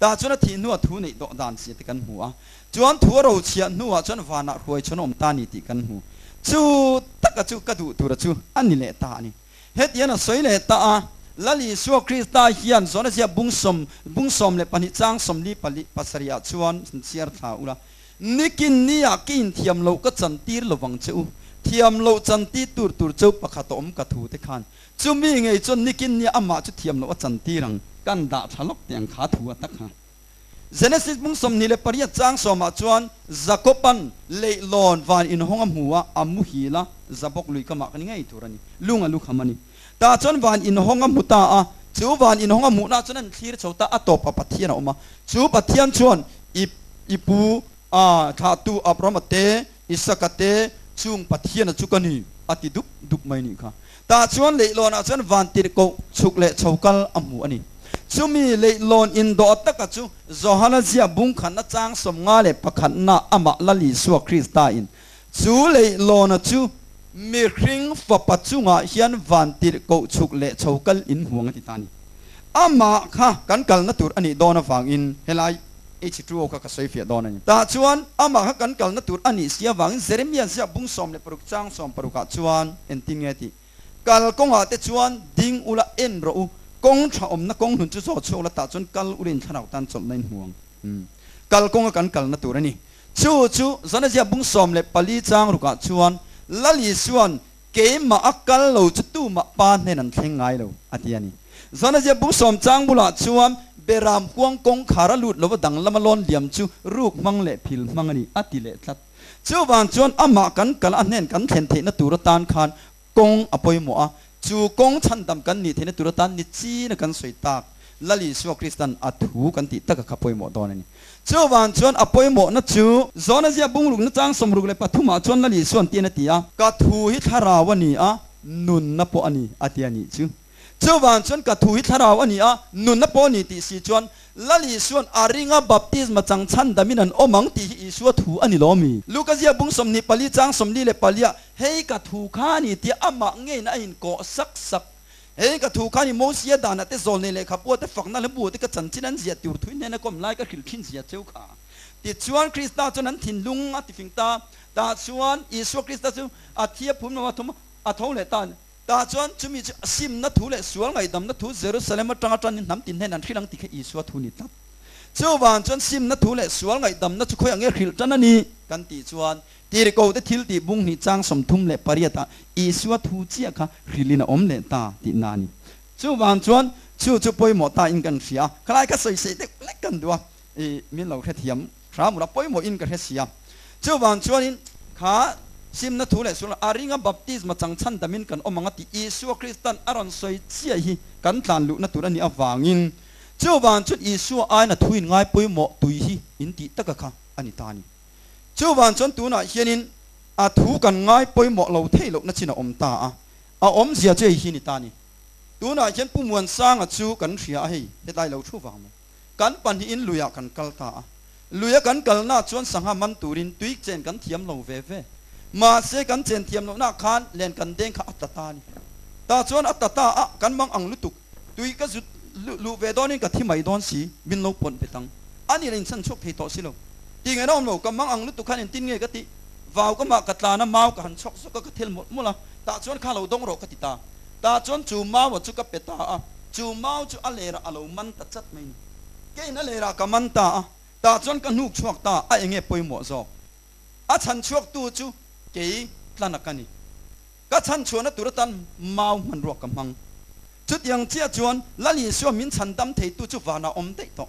Tah chuan a thih hnuah thu neih tawh dan si te kan hmu a, chuan thu a ro chhiah hnuah chuan vanah hruai chhawn awm ta ni tih kan hmu. Chu taka chu ka duh tura chu a ni leh ta a ni. Hetian a sawi leh ta a, Lal Isua Krista hian zawnazia bung sawm, bung sawm leh pahnih chang sawmli pali pasarih ah chuan min chhiar thla ula. Nikin nia ka inthiam loh ka chantir lovang che u. Thiam loh chanti tur tur cho pakhat a awm ka thu te khan Chumi ngei chuan Nick-in nia amah chu thiam loh a chan tir ang, kan dah thla lawk teh ang kha a thu a takha. Genesis bung sawmhnih leh pariat chang sawmah chuan Jakob-a'n leihlawn van inhawng a hmu a, a muhil a, za bawk lui kamah kan i ngei tur a ni. Lung a lukham a ni. Tah chuan van inhawng a hmu ta a, chu van inhawng a hmuhna chuan a inthlir chho ta, a tawpah Pathian a awm a, chu Pathian chuan i i pu a thlahtu Abraham-a te Isaka te chung Pathiana chu ka ni a ti dup dup mai nih kha. Tah chuan leihlawnah chuan van tirhkoh chhuk leh chho kal a hmu a ni. Chumi leihlawn in dawh taka chu Johanazia bungkhan achang sawm nga leh pakhatna amah Lalisua Krista in chu leihlawn a chu Mihring fapa chungah hian van tirh koh chhuk leh chho kal in hmuang a ti ta a ni. Amah kha kan kalna tur a nih dawn avangin helai H2O kha ka sawi fiah dawn a ni. Tah chuan amah kha kan kalna tur a nih si avangin Jeremia ziahbung sawm leh paruk chang sawm parukah chuan engtin nge tih? Kal kawngah te chuan ding ula en rawh u, kawng tha awmna kawng hlun chu zawh chhuak la tah chuan kal ula inthlarau tan chawlhna in hmuang. Kal kawnga kan kalna tur a ni. Chu chu Zanazia bung sawm leh pali chang rukah chuan Lali chuan Keimah a kal lo chu tumah pa hnena an thleng ngai lo, a ti a ni. Zanazia bung sawm chang bulah chuan Beram huang kawngkhar a lut lova dang lama lawn liam chu ruk hmang leh phil hmang a ni, a ti leh tlat. Chuvang chuan amah kan kal a hnen kan thlen theihna tura tan khan Kawng a pawimawh a, chu kawng chhandam kan nih theihna tur atan ni china kan sawi tak Lal Isua Krista'n a thu kan tih taka kha pawimawh dawn a ni. Chuvang chuan a pawimawhna chu Zawnazia bungrukna chang sawmruk leh pathumah chuan Lal Isua'n tian a ti a. Ka thu hi thlarau a ni a, nunna pawh a ni a tia nih chu. Chuvang chuan ka thu hi thlarau a ni a, nunna pawh a ni tih si chuan Lal Isua'n a ringa baptisma chang chhan damin an awm ang tih hi Isua thu a ni lawm i? Luka ziabung sawmhnih pali chang sawmli leh palia Hei ka thu kha a ni tia amah ngeiin a inkawh sak sak. Hei ka thu kha a ni, Mosia danah te, zawlnei lehkha bua te, fakna leh bua te ka chanchin an ziah tur thui hnena kawm lai ka hrilh thin zia cheu kha. Tichuan Krista chuan an thinlung a tifing ta. Tah chuan Isua Krista chu a thia phum lam a thum a, a tho leh ta. Tah chuan chumi chu a simna thu leh sual ngaihdamna thu Jerusalem atang a tanin hnam tinhnen an hrilh ang ti kha Isua thu ni tlat. Chuvang chuan simna thu leh sual ngaihdamna chu khawiah nge hrilh tan a ni? kan tih chuan tirhkoh te thil tih bung hnih chang sawmthum leh pariatah Isua thu chiah kha hrilhin a awm leh ta tih na a ni. Chuvang chuan chu chu pawimawh tain kan hria a, khalai kha sawi seh deuh lek kan duh a, i min lo hrethiam. Hramura pawimawh in ka hresia. Chu vang chuan in kha simna thu leh sulh a ringa baptisma changchhan dam in kan awm ang a ti Isua Krista'n a rawn sawi chiah hi kan tlan luhna tur a nih avang in chu vang chuan Isua aina thu in ngai pawimawh tui hi in tih taka kha a ni ta ni. Chu vang chuan tunah hian in a thu kan ngai pawimawh lo thei lohna chin a awm ta a, a awm zia chu hei hi a ni ta ni. Tunah hian Pumuan Sanga chu kan hria a hei hetlai lo thu vang maw? Kan pahnihin luiah kan kal ta a. Luia kan kalnak chuan sangha man turin tui chen kan thiam lo ve ve. Mahse kan chen thiam lohna khan len kan deng kha a ta ta a ni. Tah chuan a ta ta a, kan mang ang lutuk. Tui ka zut luh ve dawnin ka thi mai dawn si, min lo pawt bet ang. A nih le in chhan chhuak thei tawh si lo. Ti nghen awm lo, ka mang ang lutuk khan in tin nge ka tih? Vau ka mah ka tlan a, mau ka han chhawk zawk a, ka thel mawlh mawlh a, tah chuan kha lo dawng rawh ka ti ta. Tah chuan chu Mao-a chu ka pe ta a, chu Mao chu a lerah a lo man ta chat mai ni. Keiin a lerah ka man ta a, tah chuan ka hnuk chhuak ta a enge pawimawh zawk. A chhan chhuaktu chu kei Tlanak a ni. Ka chhan chhuahna tur atan Mao hmanruak ka hmang. Chutiang chiah chuan Lalisua min chhan dam theitu chu vanah awm daih tawh.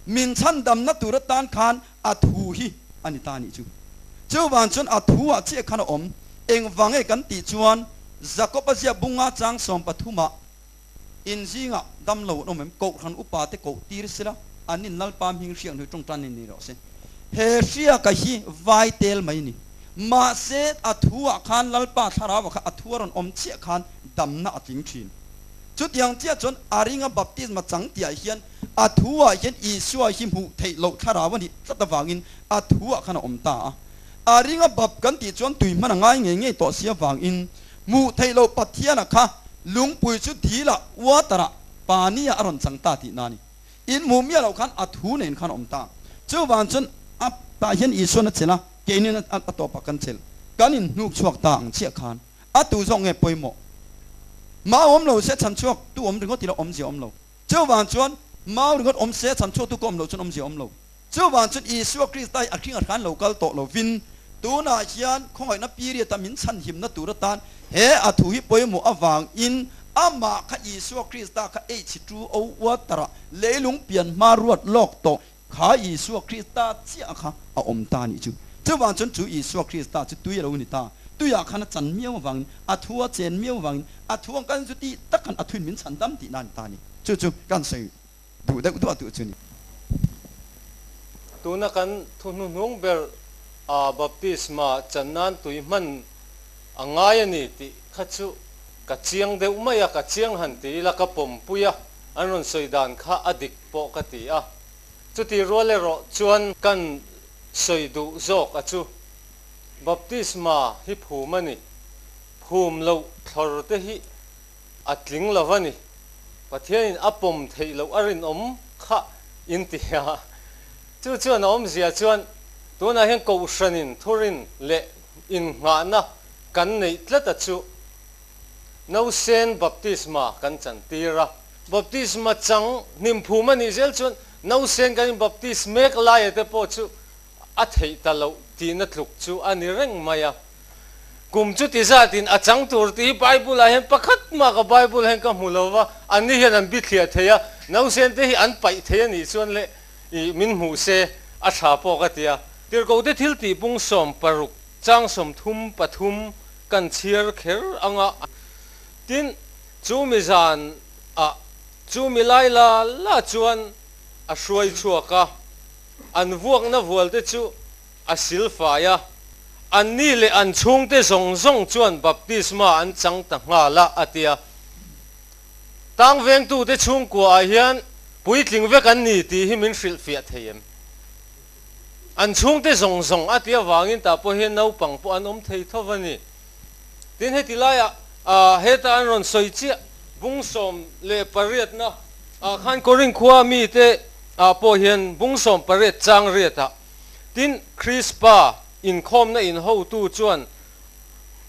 Min chhan damna tur atan khan A thu hi a ni ta nih chu. Chu vang chuan a thu ah chiah khan a awm. Engvange kan tih chuan Jakob a ziah bung a chang sawm pathum ah in zingah dam lo an awm em? Kohhran upa te koh tir sela an in lalpa hming hriak hnu tawngtan nen ni rawh se. He hriaka hi vai tel mai a ni. Mahse a thu ah khan lalpa thlarau ah kha a thu a rawn awm chiah khan damna a tling thin. Chutiang chiah chuan a ringa baptisma chang tihah hian a thuah hian Isua hi hmuh theih loh thlarau a nih tlat avangin a thuah khan a awm ta a. A ringa bap kan tih chuan tui hman a ngai ngei ngei tawh si avangin hmuh theih loh Pathiana kha lungpui chu dila uatara pa nia a rawn chang ta tih na a ni. In hmuh miah loh khan a thu nen khan a awm ta a. Chuvang chuan a tah hian Isuan a chelh a, keinin a tawpah kan chelh. Kan in hnuk chhuak ta ang chiah khan. A tu zawk nge pawimawh? Mau awm lo se chhan chhuak tu awm ringawt ila awm zia awm lo. Cheu vang chuan mau ringawt awm se chhan chhuak tu ka awm lo chuan awm zia awm lo. Cheu vang chuan Isua Kristahi a khinga hran lo kal tawh lo vin, tunah hian khawngaihtna period a min chhan himna tur atan he a thu hi pawimawh avangin amah kha Isua Krista kha eichhitru o uattara leilung pianhma ruat lawk tawh Kha Isua Krista chiah kha a awm ta nih chu. Chuvang chuan chu Isua Krista chu tui a lo ni ta, tuiah khan a chan miau avangin, a thu a chen miau avangin, a thu ang kan zuti takan a thu in min chhan dam tihna a ni ta a ni. Chu chu kan sawi duh deuh duah duh chu a ni. Tuna kan thu hnuhnung ber a baptisma chan nan tui hman a ngai a ni tih kha chu ka chiang deuh mai a, ka chiang han ti ila ka pawmpui a, an rawn sawi dan kha a dik. pawh ka ti a, chuti rual erawh chuan kan sawi duh zawk a chu baptisma hi phum a ni, phum loh thlawr te hi a tling lo a ni, Pathianin a pawm theih loh a rinawm kha in ti a, chu chuan a awmzia chuan tunah hian kohhranin thurin leh innghahna kan neih tlat a chu nausen baptisma kan chantir a. Baptisma chang hnimphu mah nih zel chuan nausen kan in baptist mek laia te pawh chu a theih ta loh tihna tluk chu a ni reng mai a. Kum chuti zatin a chang tur te hi Bible-ah hian pakhat maka Bible-ah hian ka hmu lo va, anni hian an bithliah theih a, nausen te hi an paih theih a nih chuan le i min hmuh se a tha pawh ka ti a. Tirhkohte thiltihpung sawm paruk chang sawmthum pathum kan chhiar kher ang a. Tin, chu mi zan ah chu milai la la chuan a hruai chhuak a, an vuakna vual te chu a sil fai a, an ni leh an chhung te zawng zawng chuan baptisma an chang ta nghal a a ti a. Tang veng tu te chhungkua ah hian puitling vek an ni tih hi min hrilh fiah thei em? An chhung te zawng zawng a ti avangin tah pawh hian naupang pawh an awm thei tho a ni. Tin, heti laiah heta an rawn sawi chiah bung sawm leh pariatna ah khan Korin khua mite pawh hian bung sawm pariat chang riat ah tin Krispa inkhawmna in hotu chuan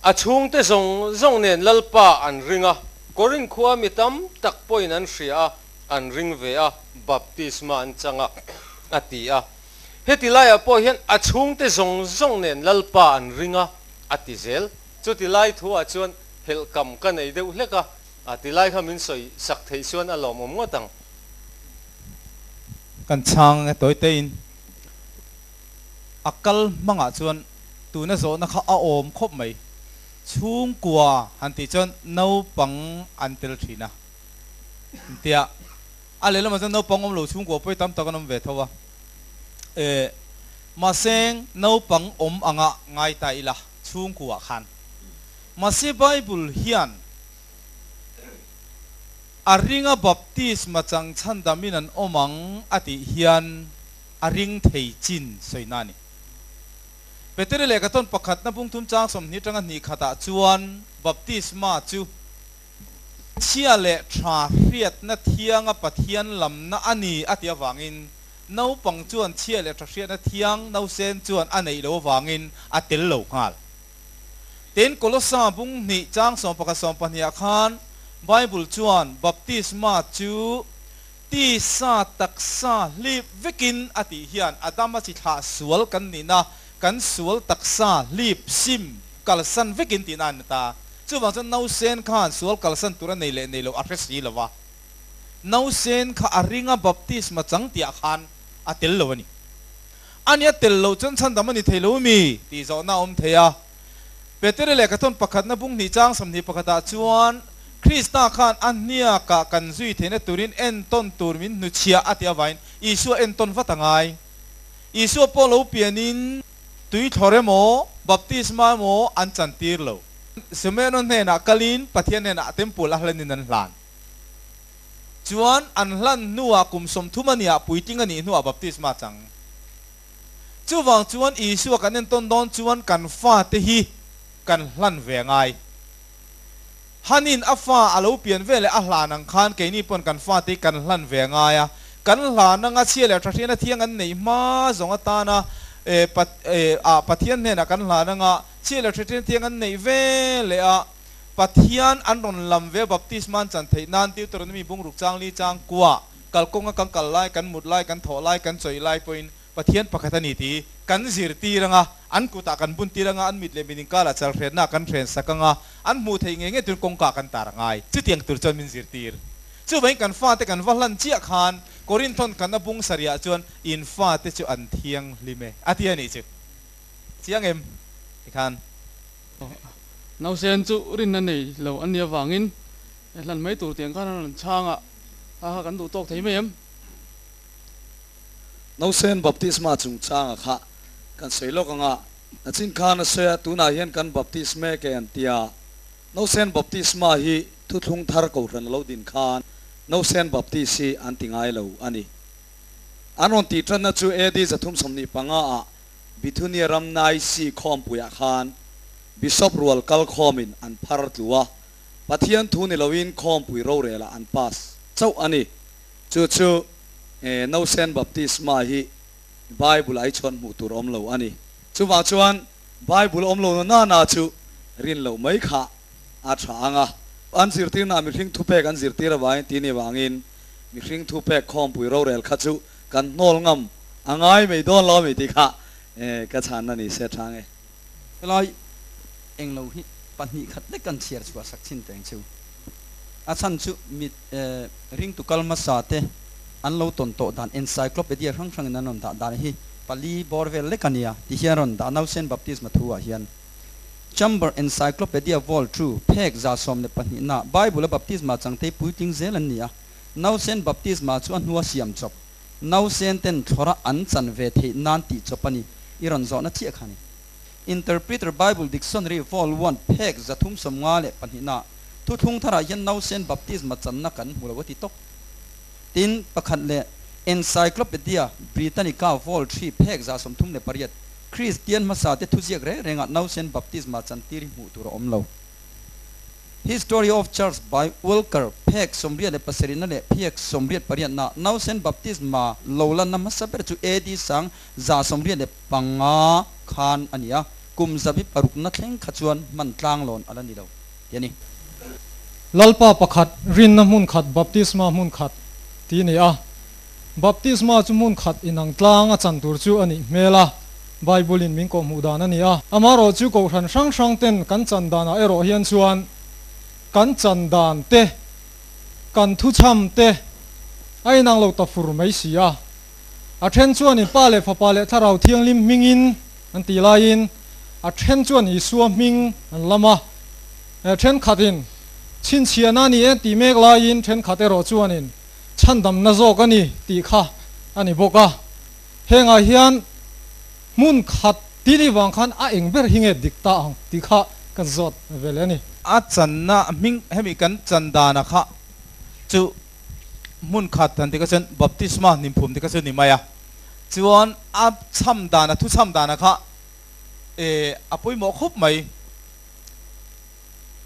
a chhungte zawng zawng nen Lalpa an ring a, Korin khua mi tam tak pawhin an hria a, an ring ve a, baptisma an chang a, a ti a. Heti laiah pawh hian a chhungte zawng zawng nen Lalpa an ring a. a ti zel. Chuti lai thu ah chuan phelh kam ka nei deuh hlek a, a ti lai kha min sawi sak theih chuan a lawmawm ngawt ang. Kan chhang nge tawite in a kal hmang ah chuan tuna zawhna kha a awm khawp mai. Chhungkua han tih chuan naupang an tel thin a, intiah. A lehlamah chuan naupang awmlo chhungkua pawi tam tak an awm ve tho a. Eh, mahse naupang awm anga ngai ta ila chhungkuah khan. Mahse Bible hian a ringa baptisma changchhan damin an awm ang a tih hian a ring thei chin sawina a ni. Peteri lehkha tawn pakhatna pungthum chang sawmhnih tang a hnih khatah chuan baptisma chu. Chhia leh tha hriatna thianga Pathian lamna a ni a ti avangin naupang chuan chhia leh tha hriatna thiang nausen chuan a neih lo avangin a tel lo nghal. Tin, Kolosa bung hnih chang sawmpakhat sawmpahnih ah khan Bible chuan baptisma chu Tisa taksa hlip vekin a tih hian Adam a chithlah sual kan nin a, kan sual taksa hlip sim kalsan vekin tihna an ni ta. Chuvang chuan nausen khan sual kalsan tura nei leh nei lo a hre si lo va. Nausen kha a ringa baptisma chang tih ah khan a tel lo a ni. A nia tel lo chuan chhandam a ni thei lo mi tih zawhna a awm thei a. Peteri leh Kathawn pakhatna bung hnih chang sawmhnih pakhatah chuan Krista khan a hniakah kan zui theihna turin entawn tur min hnuchhia a ti avangin Isua entawn vat a ngai. Isua pawh lo pianin tui thlawr emaw, baptisma emaw an chan tir lo. Simon-a hnenah kalin Pathian hnenah a temple a hlanin an hlan. Chuan an hlan hnuah kum sawmthum aniah puitling anih hnuah baptisma a chang. Chuvang chuan Isua kan entawn dawn chuan kan fate hi kan hlan ve ngai. Hanin a fa a lo pian ve leh a hlan ang khan keini pawn kan fate hi kan hlan ve ngai a. Kan hlan anga chhia leh tha ṭhiana thiang an neih hma zawng atana ah Pathian hnenah kan hlan anga chhia leh tha ṭhian thiang an neih ve leh a. Pathian an rawn lam ve baptisma an chan theih nan Deuteronomy bungruk chang li chang kuah kalkawnga kan kal lai, kan mut lai, kan thawh lai, kan chawi lai pawhin Pathian pakhat a ni tih kan zirtir ang a, an kutah kan buntir ang a, an mit leh min inkarah chalhriatnaah kan hrensak ang a, an hmuh theih nge nge turin kawngkah kan tar angai, chutiang tur chuan min zirtir. Chuvain kan fate kan va hlan chiah khan Korinthon kan a bung sarihah chuan, In fate chu an thianghlim e, a ti a nih chu. Chiang em? Ti khan. Nausen chu rin a nei lo a nia vangin, e hlan mai tur tih ang khan an rawn chhang a. Haha kan duh tawk thei mai em. Nausen baptisma chungchanga kha kan sawi lawk anga nachin khan a sawi a, tunah hian kan baptisme ke an tia. Nausen baptisma hi thuthlung thar kohhran a lo din khan Nausen baptisi an ti ngai lo a ni. An rawn tih ṭanna chu AD za thum sawmhnih panga ah Bithunia ram Naisi khawmpuiah khan Bishop rual kal khawmin an phar tlu a, Pathian thu ni loin khawmpui rorelah an pass chauh a ni. Chu chu e nosen baptisma hi Bible ai chhuan hmuh tur awm lo a ni. Chuvang chuan Bible awm lo na nana chu rin loh mai kha a tha ang a. An zirtirna mihring thupek an zirtir avangin tini avangin mihring thupek khawmpui rorel kha chu kan hnawl ngam a ngai mai dawn lo a mi tih kha e ka chhanna ni se a chang e. Helai englo hi pahnih khat lek an chhiar chhuah sak chhin teng chu. A chhan chu mit ringtu kal hmasa te an lo tawn tawh dan encyclopedia hrang hrangin an rawn dah dan hi pali bawr vel lek a nia ti hian a rawn dah a, Nausen Baptisma thuah hian Chamber Encyclopedia Vol. Thu, phek za sawm leh pahnih na, Bible-a baptisma changtei puitling zel an ni a, Nausen Baptisma chu a hnua siam chawp. Nausen ten thlawrah an chan ve theih nan tih chawp a ni. I rawn zawhna chiah kha a ni. Interpreter Bible Dictionary Vol. One, phek za thum sawm nga leh pahnih na Thuthlung tharah hian nausen baptisma channa kan hmu lo a ti tawk. Tin, pakhat leh Encyclopedia Britannica Vol. Three, phek za sawm thum leh pariat, Kristian hmasa te thuziak reng rengah nausen baptisma chan tir hi hmuh tur a awm lo. History of Church by Walker, Phek sawmriat leh pasarihna leh Phek sawmriat pariatna, Nausen Baptisma lo lanna hmasa ber chu AD sang za sawmriat leh panga khan a ni a, kum zabi parukna thleng kha chuan hman tlang lawn a la ni lo tih a ni. Lalpa pakhat, rinna hmun khat, Baptisma hmun khat tih a ni a. Baptisma chu hmun khat inang tlang a chan tur chu a nih hmel a, Bible-in min kohhmuh dan a ni a. Amaherawh chu kohhran hrang hrangten kan chan danah erawh hian chuan kan chan dan te, kan thuchham te a inang lo ta fur mai si a. A then chuanin Pa leh Fapa leh Thlarau Thianghlim hmingin an ti laiin a then chuan Isua hming an lam a. Thenkhatin chhinchhiahna a ni e an tih mek laiin thenkhat erawh chuanin chhandamna zawk a ni tih kha a ni bawk a, hengah hian hmun khat tini vang khan a eng ber hi nge dik ta ang tih kha kan zawt ve leh a ni. A channa hming hemi kan chan dana kha chu hmun khat han ti kha chuan Baptisma hnimpum tih kha chu ni mai a, chuan a chham dana, thu chham dana kha e a pawimawh khup mai.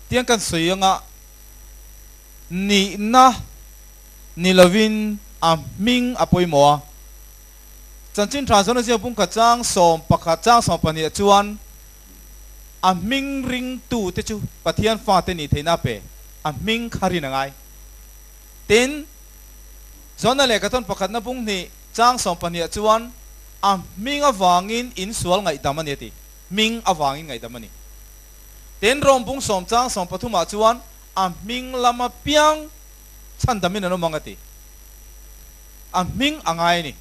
Tiang kan sawi anga nihna ni lovin a hming a pawimawh a. Chanchin Tha Zawna Zia Pumkhat chang sawm pakhat chang sawm pahniha chuan a hming ring tu te chu Pathian fate ni theihna pe a hming kha rin a ngai. Tin, Zawna leh Katon pakhatna bung hnih chang sawm pahniha chuan a hming avangin in sual ngaihdam a ni a ti. Hming avangin ngaihdam a ni. Ten rawngpung sawm chang sawm pathumah chuan a hming lama piang chhan damin an awm ang a ti. A hming a ngai a ni.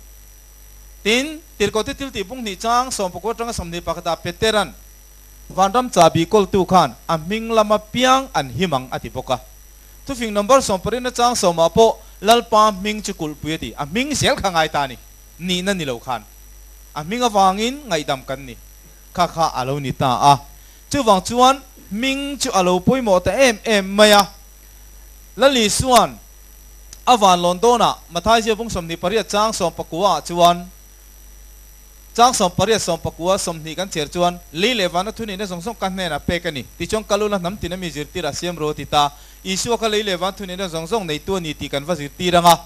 Tin, Tirkaute thiltih pung hnih chang sawm pakua tanga sawmhnih pakhatah Peteran Vanram Ca Biakoltu khan a hming lama piang an him ang a ti bawk a. Thufing Nombar sawm parina chang sawmah pawh Lalpa hming chu kulhpui a ti. A hming zel kha a ngai ta a ni. Nihna ni lo khan a hming avangin ngaihdam kan ni. Kha kha a lo ni ta a, chuvang chuan hming chu a lo pawimawh ta em em mai a. Lali suan a van lawn dawnah Mathaizia vung sawmhnih pariat chang sawm pakua ah chuan chang sawm pariat sawm pakua sawmhnih kan chher chuan lei leh vana thun inna zawng zawng ka hnenah pek a ni ti chuan ka lo la hnam tina mi zirtirah siam rawh ti ta. Isua kha lei leh van thun inna zawng zawng neitu a ni tih kan va zirtir ang a.